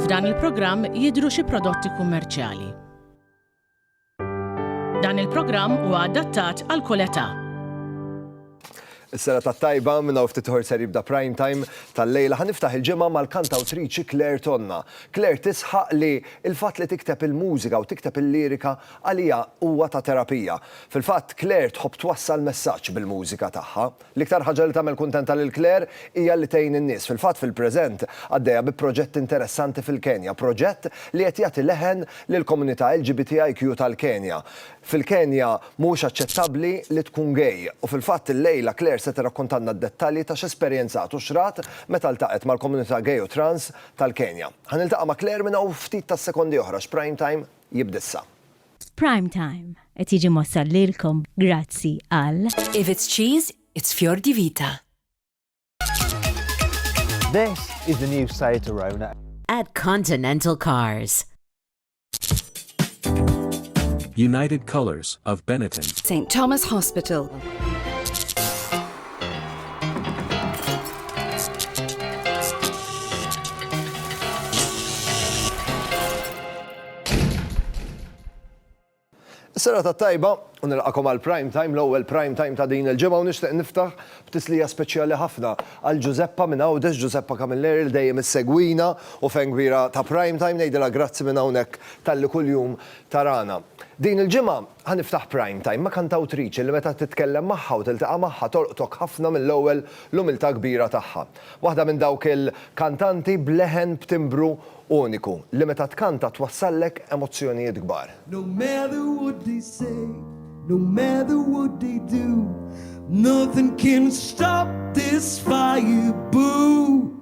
F'dan il-programm jidhru xi prodotti kummerċjali. Dan il-programm huwa adattat għal kull età. Is-sena tat-tajba minn hawn ftit ħor ser jibda prime time tal-lejla ħa niftaħ il-ġimgħa mal-kantawtriċi Claire Tonna. Claire tisħaq li l-fatt li tikteb il-mużika u tikteb il-lirika Għalija huwa ta' terapija. Fil-fatt, Claire tħobb twassal messaġġ bil-mużika tagħha. L-iktar ħaġa li tagħmel kuntenta lil Claire hija li tgħin in-nies. Fil-fatt, fil-preżent, għaddejja bi proġett interessanti fil-Kenja, proġett li qed jagħti leħen lill-komunità LGBTIQ tal-Kenja. Fil-Kenja, mhuwiex aċċettabbli li tkun gay, u fil-fatt illejla Claire se tirrakkontalna d-dettalji ta' x'esperjenzat u x'rat meta ltaqgħet mal-komunità gay u trans tal-Kenja. Ħa niltaqa' ma' Claire minn hawn ftit tas-sekondi oħra x'Prime Time jibda issa. Prime Time qed jiġi mwassal lilkom grazzi għal. If it's cheese, it's Fior di Vita. This is the new Seat Arona. At Continental Cars. United Colors of Benetton. St. Thomas Hospital. Is-serata t-tajba, u nilqakom għal Prime Time, l-ewwel Prime Time ta' din il-ġimgħa u nixtieq niftaħ b'tislija speċjali ħafna għal Ġużeppa minn Għawdex, Ġużeppa Camilleri li dejjem issegwina u fan kbira ta' Prime Time, ngħidilha grazzi minn hawnhekk talli kuljum tarana. Din il-ġimgħa Ħa niftaħ Prime Time ma' kantawtriċi li meta titkellem magħha u tiltaqa' magħha tolqtok ħafna mill-ewwel l-umiltà kbira tagħha. Waħda minn dawk il-kantanti b'leħen b'timbru uniku li meta tkanta twassallek emozzjonijiet kbar. No matter what they say, no matter what they do, nothing can stop this fire boo.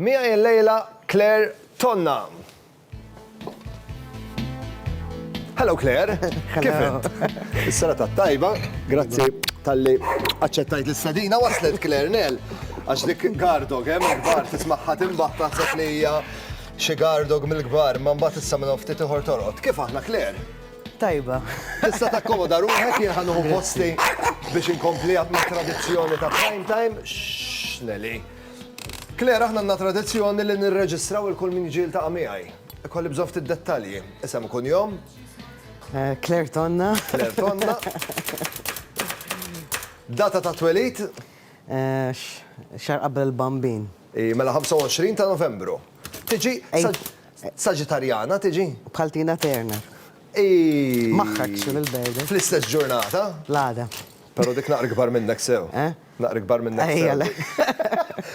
Miegħi illejla Claire Tonna. Hello Claire, kif int? Is-sena tat-tajba, grazzi talli aċċettajt l-istadina waslet Claire Nell. Għax dik Gardog, hemm il-kbar tismagħha timbaħ taħseb li hija xi Gardog mill-kbar, ma mbagħad issa minn ftit ieħor torqod. Kif aħna Claire? tajba. Tista' takkomoda ruħek jien ħanuħu posti biex inkompli ma' tradizzjoni ta' prime time. X'neli. Claire, Aħna għandna tradizzjoni li nirreġistraw il kull min jiġi jiltaqa' miegħi. Ikolli bżonn ftit dettalji, isem u kunjom. Eh, Claire Tonna. Claire Tonna. Data ta' twelid? Eh, xar qabel il-bambin. I mela 25 ta' Novembru. Tiġi Saġitarjana tiġi? Bħal Tina Turner. I. Maħħakx il-bejda. Fl-istess ġurnata? L-għada. Pero dik naqra kbar minnek sew. Eh? Naqra ikbar minnek Sally.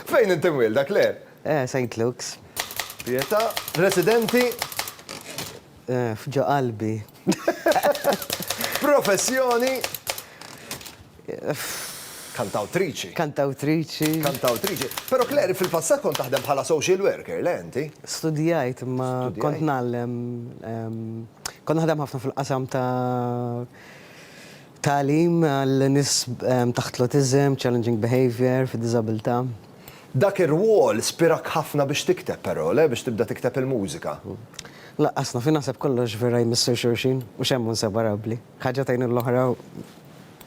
Fejn inti mwielda, Claire? Eh, Saint Luke's. Pietà, residenti? Eh, f'ġo qalbi. Professjoni? Kantawtriċi. Kantawtriċi. Kantawtriċi. Però Claire, fil-passat kont taħdem bħala social worker, le inti? Studijajt, imma kont nagħllem. Kont naħdem ħafna fil-qasam ta' Tagħlim għal nies taħt l-awtiżm, challenging behaviour, fid-diżabilità. Dak ir-rwol spirak ħafna biex tikteb però, le? Biex tibda tikteb il-mużika. Lanqas naf, jien naħseb kollox vera jmissu xulxin, mhux hemm hu inseparabbli. Ħaġa tgħin lill-oħra,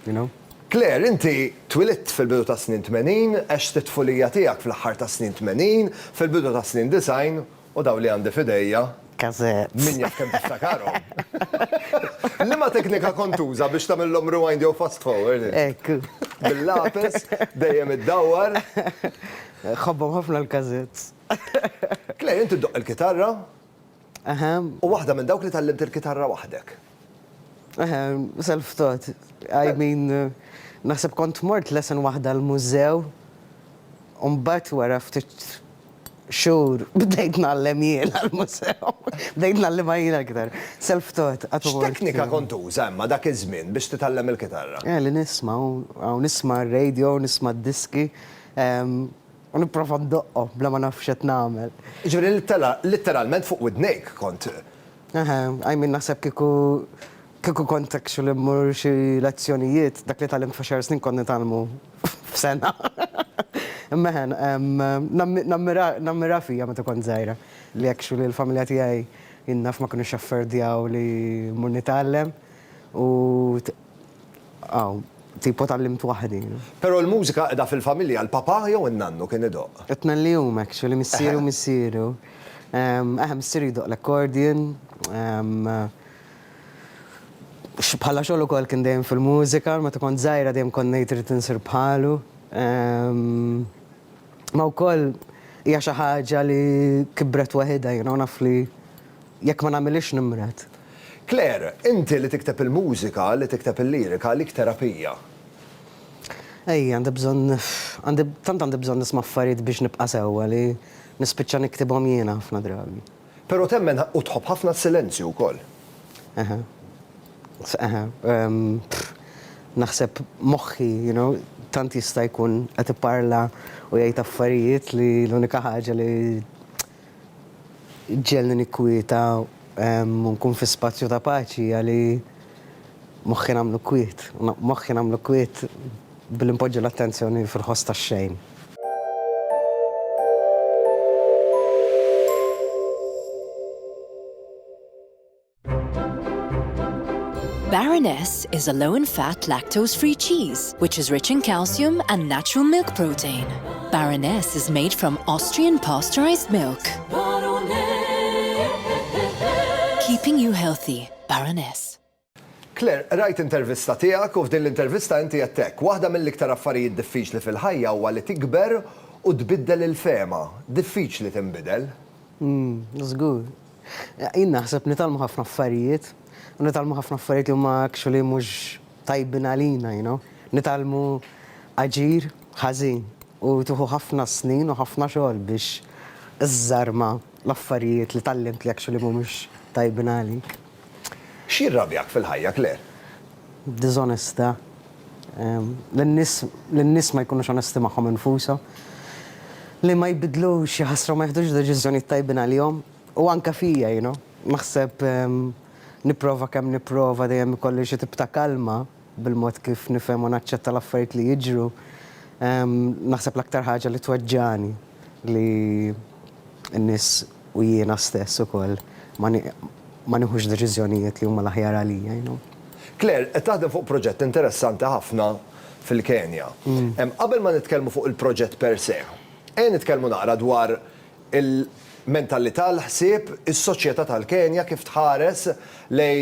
you know. Claire, inti twilidt fil-bidu tas-snin tmenin, għext it-tfulija tiegħek fl-aħħar tas-snin tmenin, fil-bidu tas-snin disgħin U dawn li għandi f'idejja. Cassettes. Min jaf kemm tiftakarhom. Liema teknika kont tuża biex tagħmilhom rewind jew fast forward int? Hekk. Bil-lapes, dejjem iddawwar. Nħobbhom ħafna l-cassettes. Clay, inti ddoqq il-kitarra. Aha. U waħda minn dawk li tgħallimt il-kitarra waħdek. Eħe, self thought. I mean, naħseb kont mort lesson waħda l-mużew u mbagħad wara ftit xhur bdejt ngħallem jiena l-mużew. Bdejt ngħallimha jiena aktar. Self thought. X'teknika kont tuża imma dak iż-żmien biex titgħallem il-kitarra? Eh, li nisma' u nisma' r-radio, nisma' d-diski u nipprova ndoqqhom bla ma naf x'qed nagħmel. Jiġifieri litteralment fuq widnejk kont Eħe, I mean naħseb kieku kieku kont actually mmur xi lezzjonijiet, dak li tgħallimt f'għaxar snin kont nitgħallmu f'sena. Imma eħe, nammira nammiraha fija meta kont żgħira li actually l-familja tiegħi jien naf ma kinux jaffordjaw li mmur nitgħallem u Aw, tipo tgħallimt waħdi. Pero l-mużika qeda fil-familja, l-papà jew in-nannu kien idoqq? It-tnejn li huma actually, missieri u missieru. Eħe, missieri jdoqq l-accordion. Bħala xogħol ukoll kien dejjem fil-mużika, meta kont żgħira dejjem kont ngħid irrid insir bħalu. Ma wkoll hija xi ħaġa li kibret waħidha, you know, naf li Jekk ma nagħmilhiex nimred. Claire, inti li tikteb il-mużika, li tikteb il-lirika għalik terapija. Ej, għandi bżonn, għandi, tant għandi bżonn nisma' affarijiet biex nibqa' sewwa li nispiċċa niktibhom jiena ħafna drabi. Però temmen u tħobb ħafna s-silenzju wkoll. Eħe. Eħe. Naħseb moħħi, you know, tant jista' jkun qed iparla u jgħid affarijiet li l-unika ħaġa li, Ġġegħelni nikkwieta u nkun fi spazju ta' paċi għali moħħi nagħmlu kwiet. Moħħi nagħmlu kwiet billi npoġġi l-attenzjoni fil-ħoss tax-xejn. Baroness is a low in fat lactose free cheese which is rich in calcium and natural milk protein. Baroness is made from Austrian pasteurized milk. Keeping you healthy, Baroness. Claire, rajt intervista tiegħek u f'din l-intervista inti jettek, waħda mill-iktar affarijiet diffiċli fil-ħajja huwa li tikber u tbiddel il-fehma. Diffiċli tinbidel? Żgur. Jien naħseb nitgħallmu ħafna affarijiet, u nitgħallmu ħafna affarijiet li huma actually mhux tajbin għalina, you know. Nitgħallmu aġir ħażin u tieħu ħafna snin u ħafna xogħol biex iżżarma l-affarijiet li tgħallimt li actually mhumiex tajbin għalik. X'jirrabjak fil-ħajja, Claire? Diżonestà. li n-nies ma jkunux onesti magħhom infushom, li ma jbiddlux xi ħasra u ma jiħdux deċiżjonijiet tajbin għalihom, u anke fija, you know. Naħseb nipprova kemm nipprova dejjem ikolli xi tip ta' kalma bil-mod kif nifhem u naċċetta l-affarijiet li jiġru. Naħseb l-aktar ħaġa li tweġġagħni li n-nies u jiena stess ukoll ma ma nieħux deċiżjonijiet li huma l-aħjar għalija, you know. Claire, qed taħdem fuq proġett interessanti ħafna fil-Kenja. Qabel ma nitkellmu fuq il-proġett per se, ejja nitkellmu naqra dwar il-mentalità, l-ħsieb, is-soċjetà tal-Kenja kif tħares lej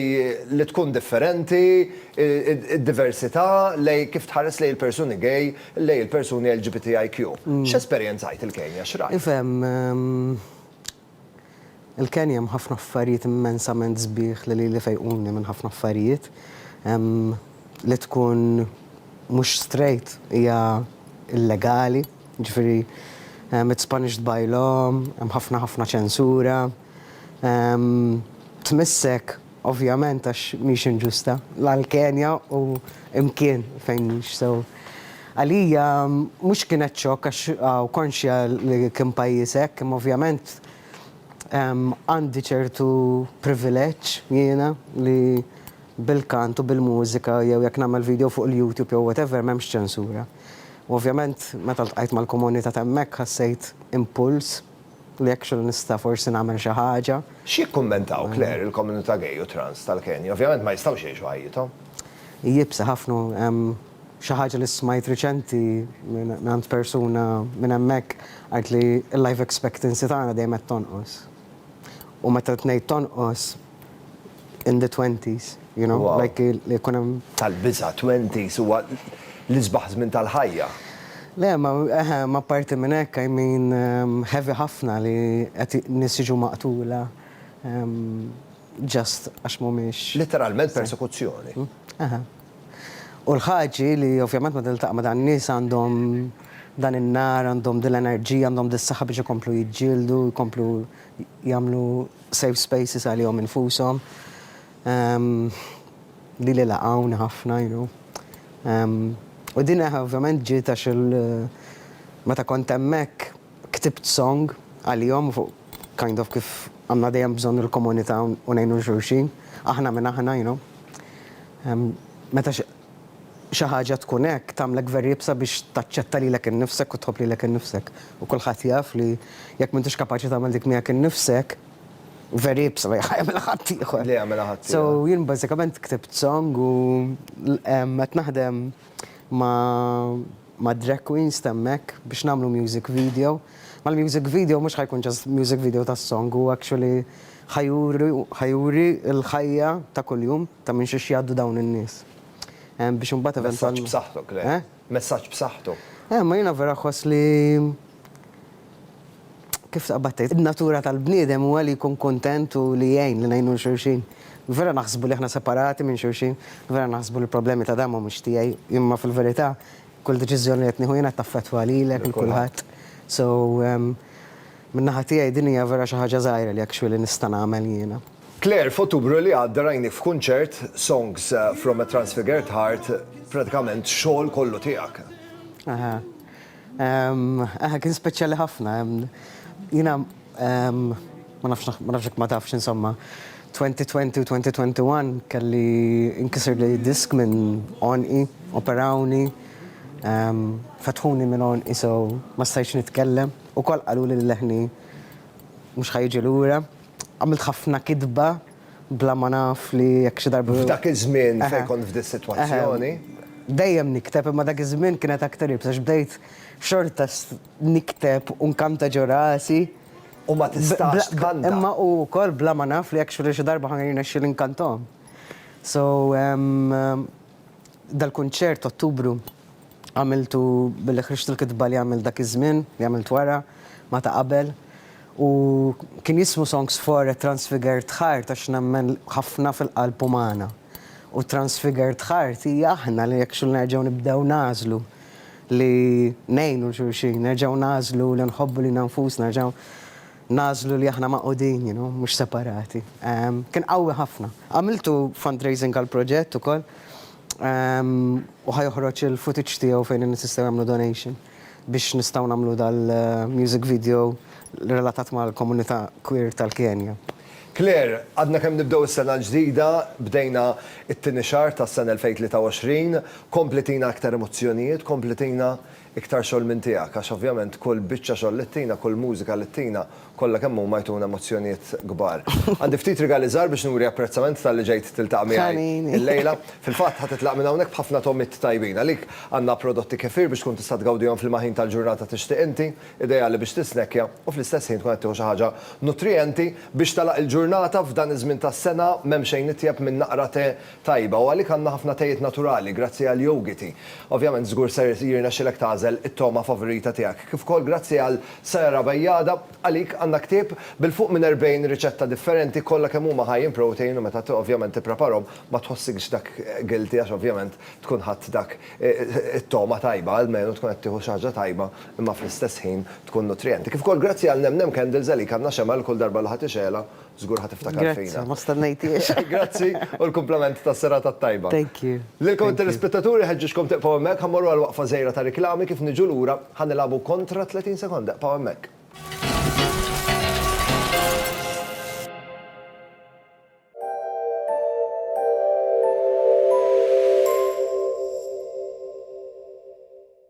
li tkun differenti, id-diversità, lej kif tħares lejn il-persuni gay, lejn il-persuni LGBTIQ. X'esperjenzajt il-Kenja? X'rajt? Ifhem, il-Kenja hemm ħafna affarijiet immensament sbieħ li lili fejquni minn ħafna affarijiet. Li tkun mhux straight hija illegali, jiġifieri it's punished by law, hemm ħafna ħafna ċensura. Tmissek ovvjament għax mhix inġusta, la l-kenja u mkien fejn mhix sew. Għalija mhux kienet xokk għax hawn konxja li kien pajjiż hekk imma ovvjament għandi ċertu privileġġ jiena li bil-kant u bil-mużika jew jekk nagħmel video fuq il-YouTube jew whatever m'hemmx ċensura. U ovvjament meta ltqajt mal-komunità t'hemmhekk ħassejt impuls, li actually nista' forsi nagħmel xi ħaġa. X'jikkummentaw, Claire, il-komunità gay u trans tal-Kenja? Ovvjament ma jistgħux jgħixu ħajjithom. Iebsa ħafna. Hemm xi ħaġa li smajt riċenti mingħand persuna minn hemmhekk għidt li l-life expectancy tagħna dejjem qed tonqos. U meta qed ngħid tonqos, in the twenties, you know, like li jkun hemm. Tal-biża' twenties huwa l-isbaħ żmien tal-ħajja. Le, ma eħe, ma apparti minn hekk, I mean, heavy ħafna li qed nies jiġu maqtula just għax mhumiex. Litteralment persekuzzjoni. Eħe. U l-ħaġi li ovvjament meta niltaqa' ma' dan nies għandhom dan in-nar, għandhom din l-enerġija, għandhom dis-saħħa biex ikomplu jiġġieldu, jkomplu jagħmlu safe spaces għalihom infushom li li laqgħuni ħafna you know u din ovvjament ġiet għax il meta kont hemmhekk ktibt song għalihom fuq kind of kif għandna dejjem bżonn il-komunità u ngħinu lil xulxin aħna minn aħna you know meta xi ħaġa tkun hekk tagħmlek very iebsa biex taċċetta lilek innifsek u tħobb lilek innifsek. U kulħadd jaf li jekk m'intix kapaċi tagħmel dik miegħek innifsek, very iebsa li jagħmilha ħaddieħor. Li jagħmilha ħaddieħor. So jien bażikament ktibt song u qed naħdem ma' drag queens ta' hemmhekk biex nagħmlu music video. Mal-music video mhux ħa jkun just music video tas-song, hu actually Ħa juri, ħa juri l-ħajja ta' kuljum ta' minn xiex jgħaddu dawn in-nies. Biex imbagħad eventwalment. Messaġġ b'saħħtu, Claire. Eh? Messaġġ b'saħħtu. Eh, ma jiena vera ħoss li kif taqbad tgħid, in-natura tal-bniedem huwa li jkun kuntent u li jgħin, li ngħinu lil xulxin. Vera naħsbu li aħna separati minn xulxin, vera naħsbu li l-problemi ta' dan mhumiex tiegħi, imma fil-verità kull deċiżjoni li qed nieħu jien qed taffettwa lilek, lil kulħadd. So, Min-naħa tiegħi din hija vera xi ħaġa żgħira li actually nista' nagħmel jiena. Claire, f'Ottubru li għadda rajnieh f'kunċert, Songs from a Transfigured Heart, pratikament xogħol kollu tiegħek. Aha. Aha, kien speċjali ħafna. Jiena ma nafx ma nafx jekk ma tafx insomma, 2020 u 2021 kelli inkisirli disk minn għonqi, operawni, fetħuni minn għonqi so ma stajtx nitkellem. Ukoll qaluli li leħni mhux ħa jiġi lura. Għamilt ħafna kitba bla ma naf li jekk xi darba. F'dak iż-żmien fejn kont f'dis-sitwazzjoni. Dejjem nikteb imma dak iż-żmien kienet aktar iebsa għax bdejt xorta nikteb u nkanta ġo rasi. U ma tistax tkanta. Imma u wkoll bla ma naf li jekk xi darba ħa jirnexxieli nkantahom. So dal-kunċert t'Ottubru. Għamiltu billi ħriġt il-kitba li għamilt dak iż-żmien, li għamilt wara, ma' ta' qabel. U kien jismu Songs for a Transfigured Heart għax nemmen ħafna fil-qalb umana. U transfigured heart hi aħna li jekk xul nerġgħu nibdew nagħżlu li ngħinu 'l xulxin, nerġgħu nagħżlu li nħobbu lilna nfusna, nerġgħu nagħżlu li aħna magħqudin, you know, mhux separati. Kien qawwi ħafna. Għamiltu fundraising għall-proġett ukoll. U ħa joħroġ il-footage tiegħu fejn in-nies jistgħu jagħmlu donation biex nistgħu nagħmlu dal-music video relatat mal-komunità queer tal-Kenja. Claire, għadna kemm nibdew is-sena l-ġdida, bdejna t-tieni xahar tas-sena 2023, kompli tina iktar emozzjonijiet, kompli tina iktar xogħol minn tiegħek għax ovvjament kull biċċa xogħol li ttina, kull mużika li ttina, kollha kemm huma jtuna emozzjonijiet kbar. Għandi ftit rigali żgħar biex nuri apprezzament talli ġejt tiltaqa' miegħi illejla. Fil-fatt ħa titlaq minn hawnhekk b'ħafna togħmiet tajbin. Għalik għandna prodotti kefir biex tkun tista' tgawdihom f'liema ħin tal-ġurnata tixtieq inti, ideali biex tisnekkja u fl-istess ħin tkun qed tieħu xi ħaġa nutrijenti biex tagħlaq il-ġurnata f'dan iż-żmien tas-sena m'hemm xejn itjeb minn naqra te tajba u għalik għandna ħafna tejiet naturali grazzi għal Yogiti. Ovvjament żgur ser jirnexxilek tagħżel it-togħma favorita tiegħek. Kif ukoll grazzi għal Sayara Bajada, għalik għandna ktieb bil fuq minn 40 riċetta differenti kollha kemm huma high in protein u meta ovvjament tippreparhom ma tħossikx dak guilty għax ovvjament tkun ħadt dak it-togħma tajba almenu tkun qed tieħu xi ħaġa tajba imma fl-istess ħin tkun nutrijenti. Kif ukoll grazzi għal Nem Nem Candles għalik għandna xemgħa li kull darba li ħa tixegħlha Żgur ħa tiftakar fina. Grazzi, ma stennejthiex. Grazzi u l-kumplament tas-serata t-tajba. Thank you. Lilkom it-telespettaturi ħeġġiġkom tibqgħu hemmhekk, ħa mmorru għal waqfa żgħira ta' riklami, kif niġu lura ħa nilagħbu kontra 30 sekonda. Ibqgħu hemmhekk.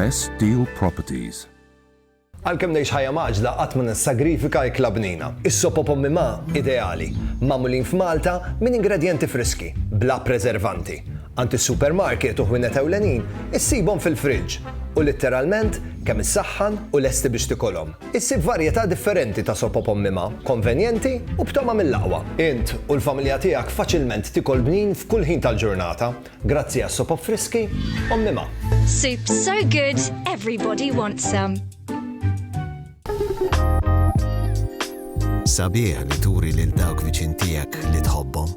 Best Deal Properties Għalkemm ngħix ħajja maġla qatt ma nissagrifika ikla bnina. Is-sopo pommi ma ideali, magħmulin f'Malta minn ingredjenti friski, bla preservanti. Għand is-supermarket u ħwienet ewlenin issibhom fil-friġġ u litteralment kemm issaħħan u lesti biex tikolhom. Issib varjetà differenti ta' sop op ommima, konvenjenti u b'togħma mill-aqwa. Int u l-familja tiegħek faċilment tikol bnin f'kull ħin tal-ġurnata grazzi għas-sop op friski ommima. Soup so good, everybody wants some. Sabiħ li turi lil dawk viċin tiegħek li tħobbhom.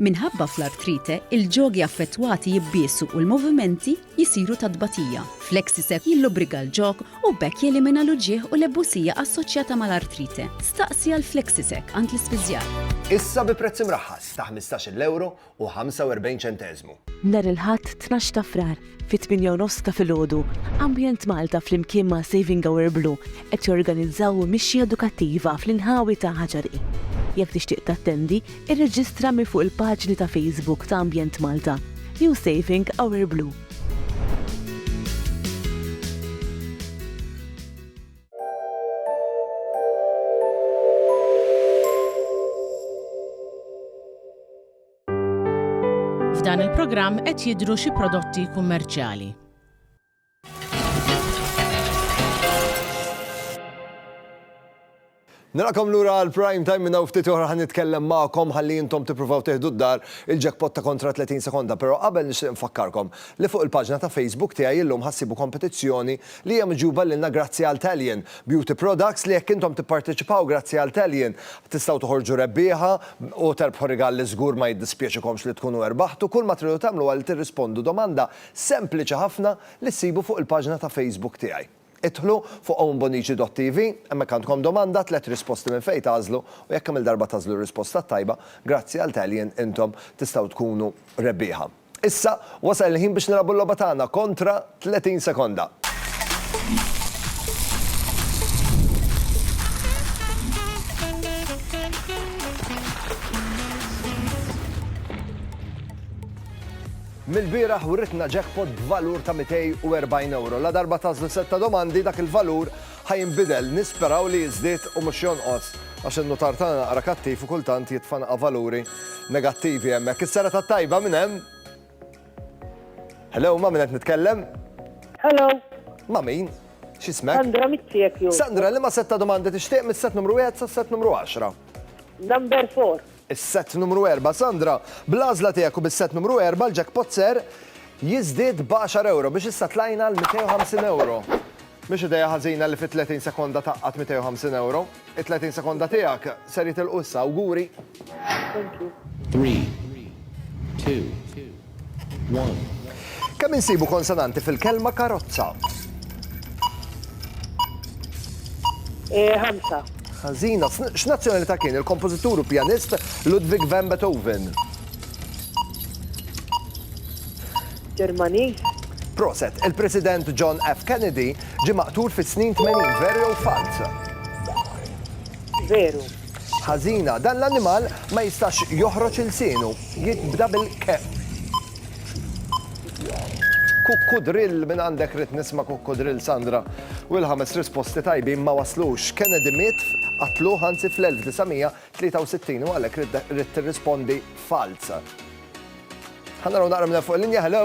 Minħabba fl-artrite, il-ġogi affettwati jibbiesu u l-movimenti jsiru ta' tbatija. Flexi-Sec jillubrika l-ġog u b'hekk jelimina l-uġigħ u l-ebusija assoċjata mal-artrite. Staqsi għal Flexi-Sec għand l-ispiżjar. Issa bi prezz imraħħas ta' ħmistax-il ewro u ħamsa u erbgħin ċenteżmu. Nhar il-Ħadd tnax ta' Frar, Fit-tmienja u nofs ta' filgħodu, Ambjent Malta flimkien ma' Saving Our Blue qed jorganizzaw mixja edukattiva fl-inħawi ta' Ħaġari. Jekk tixtieq tattendi, irreġistra minn fuq il-paġni ta' Facebook ta' Ambjent Malta jew Saving Our Blue. F'dan il-programm qed jidhru xi prodotti kummerċjali. Narakom lura għal prime time minna ftit oħra ħan nitkellem magħkom ħalli intom tippruvaw teħdu d-dar il-jackpot ta' kontra 30 sekonda, però qabel nixtieq nfakkarkom li fuq il-paġna ta' Facebook tiegħi illum ħassibu kompetizzjoni li hija miġjuba lilna grazzi għal Talion Beauty Products li jekk intom tipparteċipaw grazzi għal Talion tistgħu toħorġu rebbieħa u terbħu rigal li żgur ma jiddispjaċikomx li tkunu erbaħtu. Kull ma tridu tagħmlu huwa li tirrispondu domanda sempliċi ħafna li ssibu fuq il-paġna ta' Facebook tiegħi. Idħlu fuq owenbonici.tv, hemmhekk għandkom domanda, tliet risposti minn fejn tagħżlu u jekk kemm-il darba tagħżlu r-risposta t-tajba, grazzi għal Talion intom tistgħu tkunu rebbieħa. Issa wasal il-ħin biex nilagħbu l-logħba tagħna kontra 30 sekonda. Mill-bieraħ writna jackpot b'valur ta' 240 euro. La darba tażlu setta domandi dak il-valur ħa jinbidel, nisperaw li jiżdied u mhux jonqos, għax in-nutar tagħna naqra kattiv u kultant jitfanqa' valuri negattivi hemmhekk. Is-serata t-tajba min hemm? Hello, ma' min qed nitkellem? Hello. Ma' min? X'ismek? Sandra mit-Siekju. Sandra, liema sett ta' domandi tixtieq mis-sett numru wieħed sas-sett numru għaxra? Number four. is-sett numru erbgħa Sandra, bl-għażla tiegħek u bis-sett numru erbgħa l-jackpot ser jiżdied b'għaxar ewro biex issa tlajna għal 250 ewro. Mhix idea ħażina li fi 30 sekonda tgħaqqad 250 ewro. It-30 sekonda tiegħek ser jitilqu issa. Awguri! Three, two, Kemm insibu konsonanti fil-kelma karozza? Ħamsa. Ħażina. X'nazzjonalità kien il-kompożitur u pjanist Ludwig van Beethoven? Ġermaniż. Proset, il-President John F. Kennedy ġie maqtul fis-snin 80, veru jew falz? Veru. Ħażina, dan l-annimal ma jistax joħroġ ilsienu, jibda bil-keq. Kukkudrill, minn għandek ridt nisma' kukkudrill Sandra, u l-ħames risposti tajbin ma waslux. Kennedy miet, qatluh anzi fl-1963 u għalhekk ridt tirrispondi falz. Ħa naraw naqra minn hemm fuq il-linja, hello?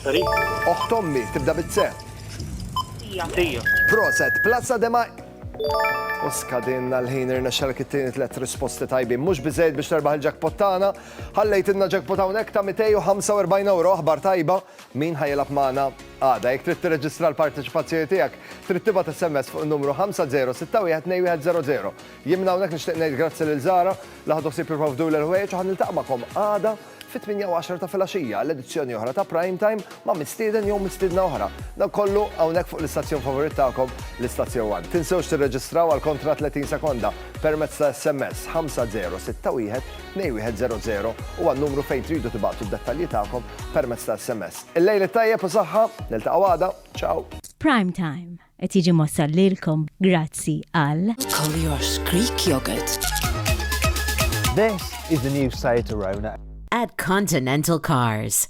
Sorry. Oħt ommi, tibda bit se. Tija. Tija. Proset, plazza de ma. U skadinna l-ħin irna xalk it-tieni tlet risposti tajbin. Mhux biżejjed biex terbaħ il-jackpot tagħna. Ħallejt inna jackpot hawnhekk ta' 245 euro aħbar tajba min ħajilab magħna għada. Jekk trid tirreġistra l-parteċipazzjoni tiegħek, trid tibgħat SMS fuq numru 50612100. Jimna hawnhekk nixtieq ngħid grazzi lil Zara li ħadu sib jipprovdu l-ħwejġ u ħan niltaq' magħkom għada Fit-tmienja u għaxar ta' filgħaxija għal edizzjoni oħra ta' Prime Time ma' mistieden jew mistiedna oħra. Dan kollu hawnhekk fuq l-istazzjon favorit tagħkom, l-Istazzjon One. Tinsewx tirreġistraw għal kontratt 30 sekonda permezz ta' SMS 5061 2100 u għan-numru fejn tridu tibagħtu d-dettalji tagħkom permezz ta' SMS. Il-lejl it-tajjeb u saħħa, niltaqgħu għada. Ciao! Prime Time. Qed jiġi mwassal lilkom grazzi għal. Collier's Greek Yogurt. This is the new Seat Arona. At Continental Cars.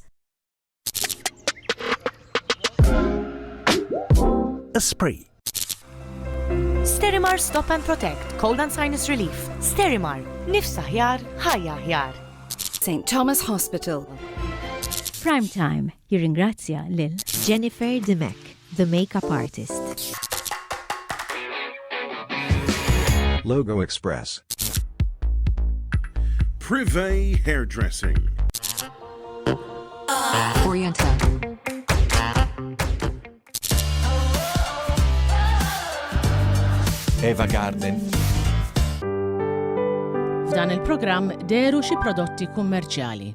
Esprit. Sterimar Stop and Protect, Cold and Sinus Relief. Sterimar, nifs aħjar, ħajja aħjar. St. Thomas Hospital. Prime Time, Jirringrazzja lil. Jennifer Dimech, the makeup artist. Logo Express. Privé Hairdressing. Oriental. Eva Garden. F'dan il-programm deru xi prodotti kummerċjali.